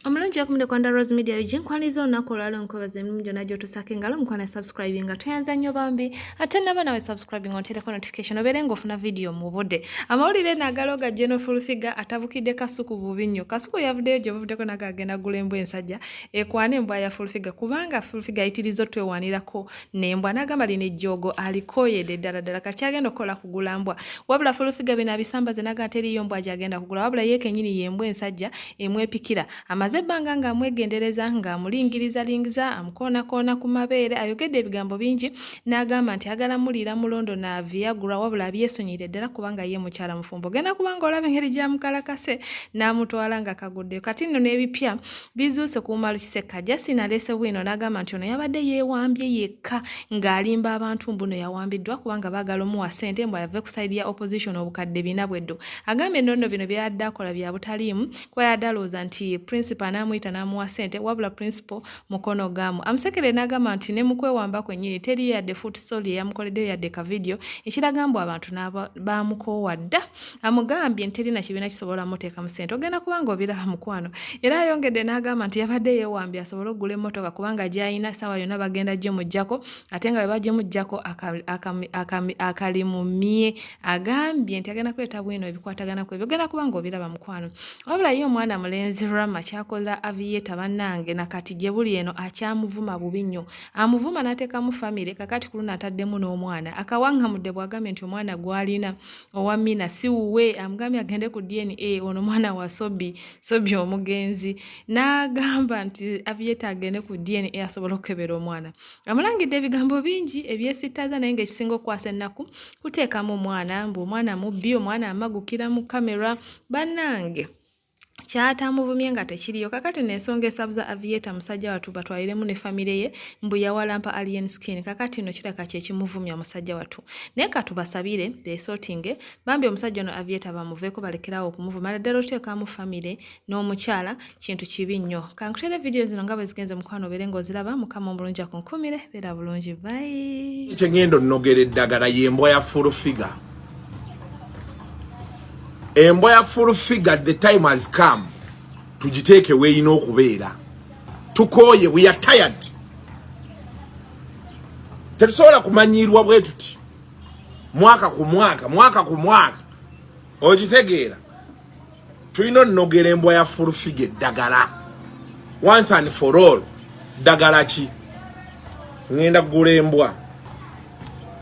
omulungi okumde kwanda rose media ug nkwaniriza olunaku olwala onkwebaza emirimu gyonna gyotusako engalo omukwana subscribing nga tweyanza nnyo bambi ate naba nawe subscribing ontereko notification obeere ngaofuna vidiyo mu budde amawulire nagala oga genofulfiga atabukidde kasuku bubi nnyo kasuku yavuddeyo gyobuvuddeko naga agenda gula embwa ensajja ekwana embwa ya fulfiga kubanga fulfiga ayitiriza otwewanirako nembwa nagamba lino ejjoogo alikoyede ddala ddala kati agenda okukola kugula mbwa wabula fulufiga bino abisambaze naga teriyo mbwa gyagenda kugula wabula ye kenyini yembwa ensajja emwepikira amaze ebbanga nga amwegendereza nga amulingirizalingiza amukoonakoona ku mabeere ayogedde ebigambo bingi n'agamba nti agala muliira mulondo na viagura wabula abyesonyire ddala kubanga ye mukyala mufumbo ogenda kubanga olaba engeri gyamukalakase n'amutwala nga kaguddeyo kati nno n'ebipya bizuuse kuumalu kisekka justin aleese bwino n'agamba nti ono yabadde yeewambye yekka ng'alimba abantu mbuno yawambiddwa kubanga baagala omuwa ssente mbu ayave ku saidi ya opposition obukadde bina bweddo agambye nonno bino byayadde akola bya butaliimu kuba yadde alowooza nti principal n'amuyita n'amuwa ssente wabula principal mukono gaamu amusekere n'agamba nti ne mu kwewamba kwennyini teriyo yadde foot sol eyamukoleddeyo yadde ka vidiyo ekiraga mbu abantu bamukoowa dda amugambye nti terina kibiina kisobola muteekamu ssente ogenda kubanga obiraba mukwano era ayongedde n'agamba nti yabadde yeewambye asobole okugula emmotoka kubanga gy'alina essaawa yonna bagenda gimuggyako ate nga bwe bagimuggyako akalimumye agambye nti agenda kuleeta bwino ebikwatagana ku ebyo ogenda kubanga obiraba mukwano wabula ye omwana mulenzi rama kyakola aviyeta bannange na kati gye buli eno akyamuvuma bubi nnyo amuvuma n'ateekamu famire kakati ku luno ataddemu n'omwana akawaŋŋamudde bw'agambye nti omwana gw'alina owa mina si wuwe amugambye agende ku dna ono mwana wa sobi sobi omugenzi n'agamba nti avieta agende ku dna asobola okukebera omwana amulangidde ebigambo bingi ebyesittaza naye ngaekisinga okukwasa ennaku kuteekamu omwana mbu omwana mubbi omwana amagukira mu kamera bannange kyatamuvumye nga tekiriyo kakati nensonga esabuza avieta musajja watu batwaliremu ne famire ye mbu yawalampa alien skin kakati no kiraka kyekimuvumya musajja watu naye katubasabire besotinge bambi omusajja ono avieta bamuveeko balekerawo okumuvuma ala ddala oteekamu famire n'omukyala kintu kibi nnyo kankutere vidiyo zino nga bwezigenze mukwano obeere ngaoziraba mukama omulungi akunkumire beera bulungi bayi kyengendo nnogera eddagala yembwa ya full figure embwa ya full figure the time has come tugiteeke weyina okubeera tukooye we are tired tetusobola kumanyiirwa bwe tuti mwaka ku mwaka mwaka ku mwaka okitegeera tulina onogera embwa ya full figure eddagala once and for all ddagala ki ŋenda kugula embwa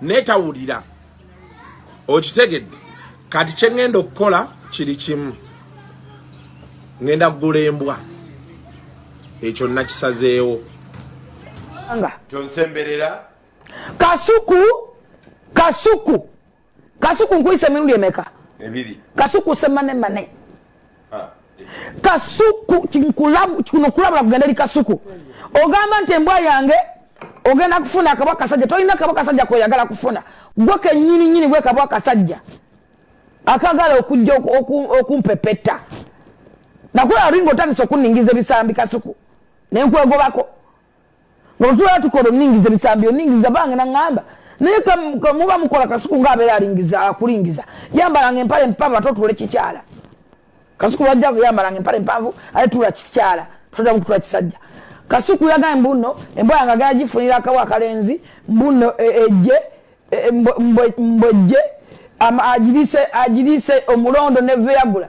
naye tawulira okitegedde kati kyengenda okukola kiri kimu ngenda kugula embwa ekyo nakisazeewo tonsemberera kasuku kasuku kasuku nkuyise emirundi emeka ebiri kasuku semane mane kasuku kuno kulabula kugenda eri kasuku ogamba nti embwa yange ogenda kufuna akabwa kasajja tolina kabwa kasajja koyagala kufuna gwe kenyini nyini gwe kabwa kasajja akagala okujja okumpepeta nakulaba ringa otandisa okuningiza ebisambi kasuku nenkwegobako nga bwetubera tukola oningiza ebisambi oningiza bange nangamba naye muba mukola kasuku nga abera alingiza akulingiza yambalanga empale mpanvu ate otule kikyala kasuku wajja yambalanga empale mpanvu ate tula kikyala todamu kutula kisajja kasuku yagaye mbuno embwa yanga gaya jifunira akawa akalenzi mbuno e, eje e, mbweje ajilise ajilise omulondo neveyagula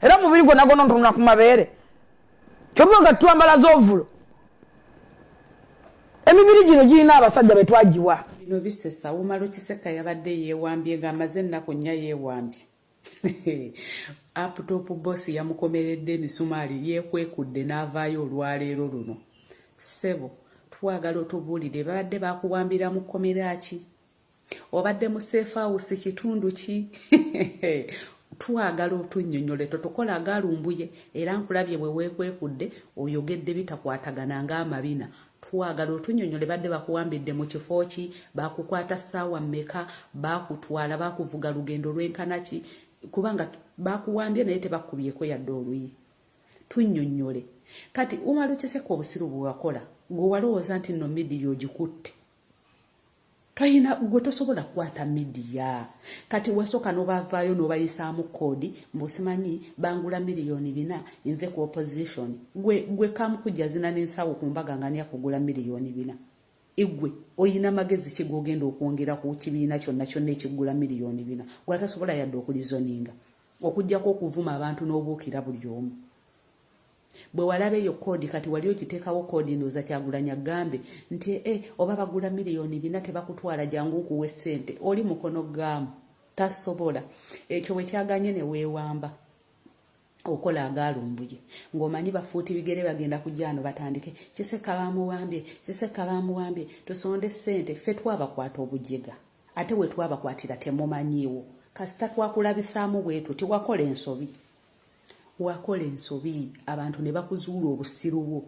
era omubiri gwonna gwonna ntunula ku mabeere kyobuba nga twambala z'ovulo emibiri gino girina abasajja be twagiwa bino bisesa wumala okiseka yabadde yeewambye ng'amaze ennaku nnya yeewambye aputopu bosi yamukomeredde emisumaali yeekwekudde n'avaayo olwaleero luno ssebo twagala otubuulire babadde bakuwambira mu kkomera ki obadde mu safe house kitundu ki twagala otunyonyole totukola agalumbuye era nkulabye bwe weekwekudde oyogedde bitakwatagana ng'amabina twagala otunyonyole badde bakuwambidde mu kifo ki bakukwata ssaawa mmeka bakutwala bakuvuga lugendo lwenkana ki kubanga bakuwambye naye tebakubyeko yadde oluyi tunyonyole kati umalukiseko obusiru bwewakola gwe walowooza nti no midiya ogikutte toyina gwe tosobola kukwata midiya kati wasooka nobavaayo nobayisaamu koodi mbusimanyi bangula miliyoni bina nve ku opposition gwe gwe kamukujazina nensawo ku mbaga nga niyakugula miliyoni bina igwe oyina magezi ki gogenda okwongera ku kibiina kyonna kyonna ekigula miliyoni bina gwe atasobola yadde okulizoninga okujjako okuvuma abantu n'obuukira buli omu Bwe walaba eyo koodi kati wali okiteekawo koodi ndowooza Kyagulanyi agambe nti e eh, oba bagula miliyoni bina tebakutwala jangu nkuwe ssente oli mukono gaamu tasobola ekyo bwe kyaganye ne weewamba okola agaalumbuye ng'omanyi bafuuti bigere bagenda kujja ano batandike kisekka baamuwambye kisekka baamuwambye tusonde ssente ffe twabakwata obujega ate we twabakwatira temumanyiiwo kasita twakulabisaamu bwetu tiwakola ensobi wakola ensobi abantu ne bakuzuula obusiru bwo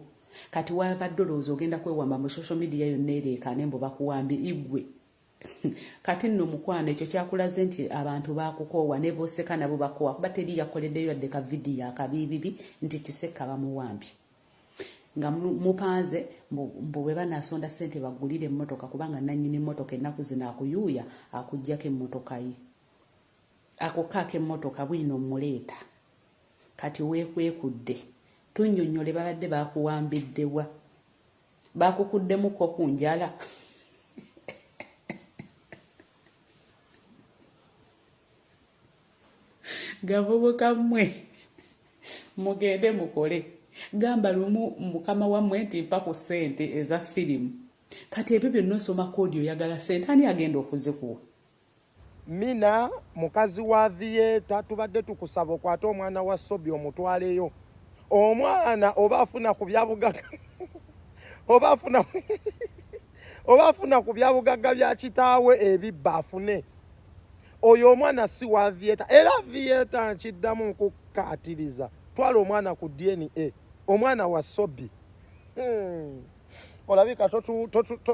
kati wabadde olowooza ogenda kwewamba mu social media yonna ereekaane mbu bakuwambye igwe kati nno mukwano ekyo kyakulaze nti abantu bakukoowa ne boseka nabo bakoowa kuba teri yakoleddeyo yadde ka vidiyo akabiibibi nti kisekka bamuwambye nga mupanze mbu bwe banasonda ssente baggulire emmotoka kubanga nannyini mmotoka ennaku zino akuyuuya akuggyako emmotoka ye ako kaaka emmotoka bwino mmuleeta kati weekwekudde tunnyonnyole babadde baakuwambiddewa baakukuddemukko ku njala gavubuka mmwe mugende mukole gamba lumu mukama wammwe nti mpa ku ssente eza firimu kati ebyo byonna osoma koodi oyagala ssente ani agenda okuzikuwa Mina mukazi wa theatre tubadde tukusaba okwata omwana wa Sobi omutwaleyo omwana oba afuna ku byabugaga oba afuna oba afuna ku byabugaga bya kitaawe ebibba afune oyo omwana si wa theatre era theatre nkiddamu nkukaatiriza twala omwana ku DNA omwana wa Sobi hmm. olabika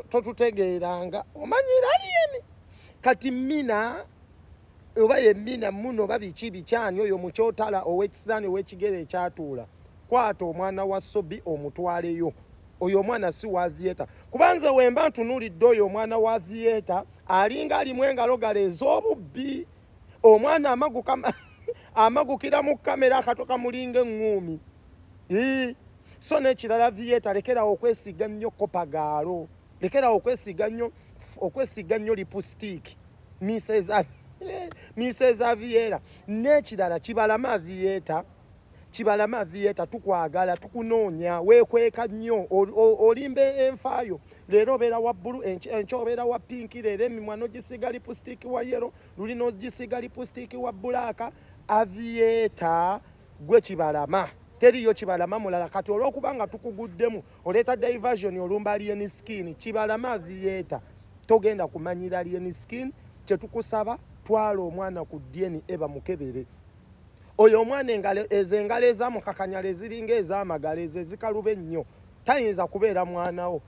totutegeeranga omanyi iranian kati mina oba ye mina muno oba biki bikyani oyo mukyotala owekisiraani owekigere ekyatuula kwata omwana wa sobi omutwaleyo oyo omwana si wa theatre kubanze wemba ntunulidde oyo omwana wa theatre alinga alimu engalo gala ez'obubbi omwana amagu amagukira mu kamera akato kamulinga eŋŋuumi so nekirala theatre lekerawo okwesiga nnyo kopagaalo lekerawo okwesiga nnyo okwesiga nnyo lipusitiiki miseza miseza viera nekirala kibalama theatre kibalama theatre tukwagala tukunoonya wekweka nnyo olimba enfaayo leero obeera wa bbulu enkya obeera wa pinki leero emimwa nogisiga lipusitiiki wa yero luli nogisiga lipusitiiki wa bbulaaka avieta gwe kibalama teriyo kibalama mulala kati olwokuba nga tukuguddemu oleeta diversion olumba alien skin kibalama theatre togenda kumanyira alien skin kyetukusaba twala omwana ku dna eba mukebere oyo omwana ezo engalo ezamukakanyala eziringa ezamagala ezo ezikaluba ennyo tayinza kubeera mwanawo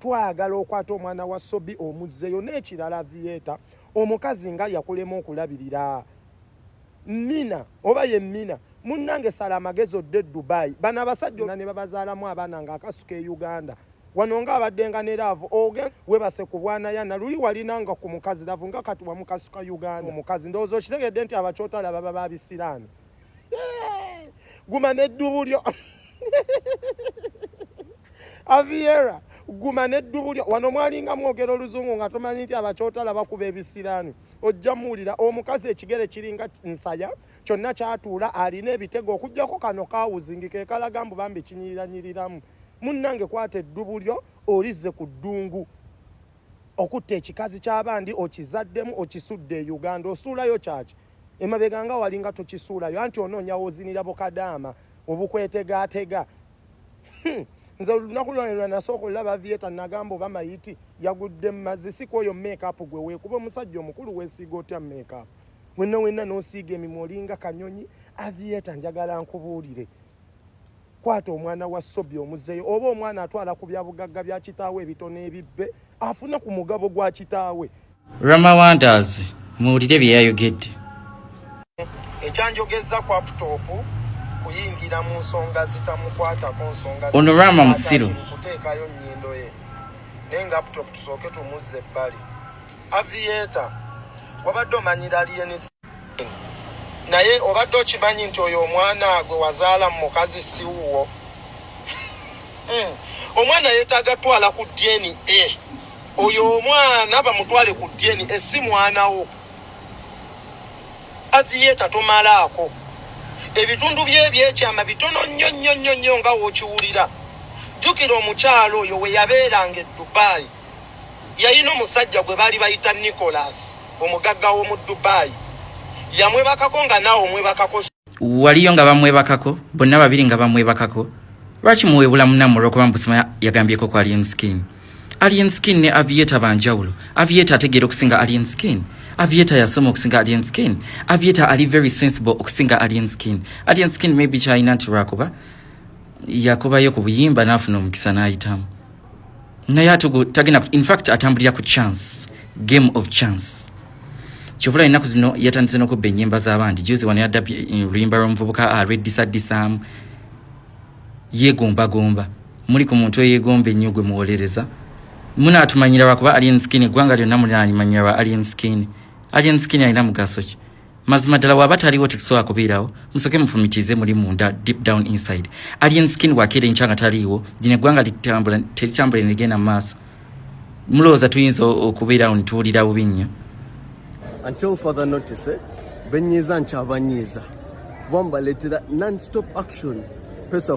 twagala okwata omwana wa sobi omuzzeyo n'ekirala vieta omukazi nga yakulema okulabirira mina oba ye mina munnange sala amagezi odde e dubai bano abasajja ona ne babazaalamu abaana ng'akasuka e uganda wano nga abadde nga ne laavu oge webase ku bwanayana luli walina nga ku mukazi laavu nga kati wamukasuka uganda omukazi ndowooza okitegedde nti abakyotala baba babisiraani guma n'eddubu lyo aviera guma n'eddubu lyo wano mwalinga mwogera oluzungu nga tumanyi nti abakyotala bakuba ebisiraani ojja muwulira omukazi ekigere kiringa nsaya kyonna kyatuula alina ebitego okugyako kano kawuzingi kekalaga mbu bambi kinyiranyiriramu munnange kwata eddubu lyo olizze ku ddungu okutta ekikazi ky'abandi okizaddemu okisudde e uganda osuulayo kyaki emabega nga wali nga tokisuulayo anti onoonya wozinira bukadaama obukwetegaatega hmm. nze olunaku lwanelwa nasooka olulaba vieta nagamba oba mayiti yagudde mumazzi si kwoyo makeup gwe weekuba omusajja omukulu wesiiga otya makeup wenna wenna nosiiga emimwa olinga kanyonyi avieta njagala nkubuulire kwata omwana wa sobi omuzeyo oba omwana atwala ku byabugagga bya kitaawe ebitono ebibbe afune ku mugabo gwa kitaawe rama wonders muwulire bye yayogedde ekyanjogeza ku aputopu kuyingira mu nsonga zitamukwatako nsonga ono rama musiru kuteekayo nnyindo ye naye nga aputopu tusooke tumuzza ebbali avieta wabadde omanyira aliyenisi naye obadde okimanyi nti oyo omwana gwe wazaala mu mukazi siwuwo hmm. omwana yetaaga twala ku dna oyo omwana bamutwale ku dna si mwanawo athiyeta tomalaako ebitundu byebyekyama bitono nnyo nnyo nnyo nnyo nga wokiwulira jjukira omukyalo oyo weyabeeranga edubayi yalina omusajja gwe baali bayita Nicholas omugagga w'omu Dubai yamwebakako nga naawe omwebakako waliyo nga bamwebakako bonna babiri nga bamwebakako lwaki muwebula munamu olwokuba mubusima yagambyeko ku alien skin alien skin ne avieta banjawulo avieta ategeera okusinga alien skin avieta yasoma okusinga alien skin avieta ali very sensible okusinga alien skin alien skin maybe kyalina nti lwakuba yakubayo ku buyimba n'afuna omukisa n'ayitamu naye atugu tagenda in fact atambulira ku chance game of chance kyobula ennaku zino yatandise nokubba enyimba zabandi juzi wano yadda eh, oluyimba lwomuvubuka alweddisaddisamu ah, yegombagomba muli ku muntu eyegomba ennyo gwe muwolereza munatumanyira lwakuba alien skin eggwanga lyonna mulimanyira lwa alien skin alien skin alina mugaso ki mazima ddala waba taliwo tekusobola kubeerawo musoke mufumitize muli munda deep down inside alien skin wakeera enkya nga taliiwo gino eggwanga litambula teritambula negenda mu maaso mulowooza tuyinza okubeerawo nituwulira bubi nnyo until further notice eh? benyiiza nkyabanyiiza kuba mbaletera non stop action pesa